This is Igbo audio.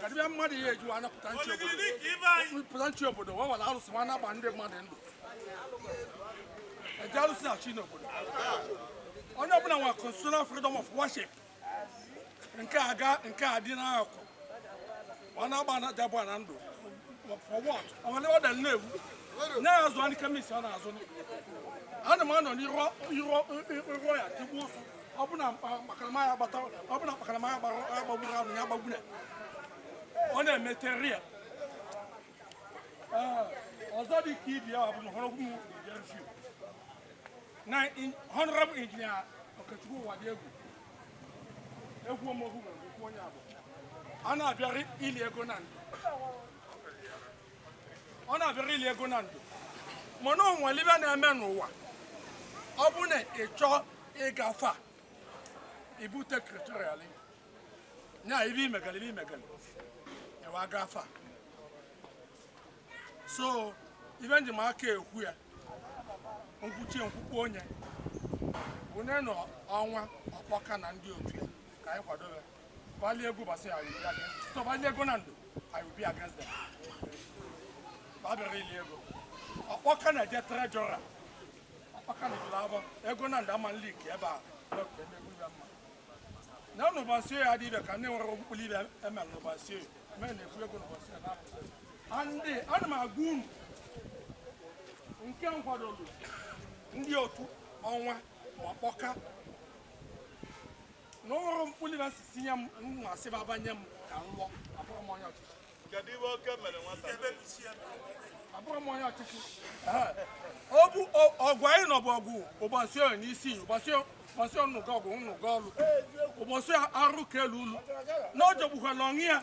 ka dibịa mmadụ ihe ejiwa anya pụta nchi obodo pụta nchi obodo wee were arụsị nwa na-agba ndị mmadụ ndụ eji arụsị achị n'obodo onye ọbụla nwere constitutional freedom of worship nke a ga nke a dị n'akụ ọ na-agba na dabụ Nando for what ọ nwere ọ dara na-ewu na-azụ anyị commissioner azụ ana m anọ n'iru ya tigbuo ụsụ ọbụna mkpakarama ya gbata ọbụna mkpakarama ya gbara ya gbagburu ahụ ya gbagburu ọ na-emete ria ọzọ dị ka ibi ya bụ na họrọ ụmụ bịarfi na honorable engineer Okechukwu Uwadiegwu ọmọgwụ nwere okwu onye abụ a na-abịarị ili ego Nando ọ na-abịara ili ego Nando mana onwere ibe na-eme n'ụwa ọ bụ na ị chọọ ịgafe a ibute criteria nya ibe imegara ibe imegara e wee gafe a so ibe m ji maka ekwu ya nkwuchie nkwukwu onye onye nọ Ọnwa Ọkpọka na ndị otu ya ka anyị kwadobe Ba lie ego basi I will be against. So ba lie ego Nando I will be against them. Ba bịarị ili ego. Ọkpọka na-eje treasurer. Ọkpọka na-eje labo. Ego Nando ama leak ebe a. Lọkụ ebe egwu ya mma. Na unu basi ya dị ibe ka ndị nwere okpukpu ibe eme unu basi. Mee na ekwu ego unu basi ya na. And ana m agwa unu nke nkwadolu ndị otu Ọnwa Ọkpọka na ọ nwere mkpụli na si tinye m m asị m abanye m ka m lụọ abụrụ m onye ọchịchị kedu ihe oke mere nwata abụrụ m onye ọchịchị ọ bụ ọ- ọgụ anyị nọ bụ ọgụ ụbasị ọ n'isi ụbasị ọ- ụbasị ọnụgọ ọgụ nnụgọ ọlụ ụbasị arụ ka elu ụlọ na ọ jọgbukwala onwe ya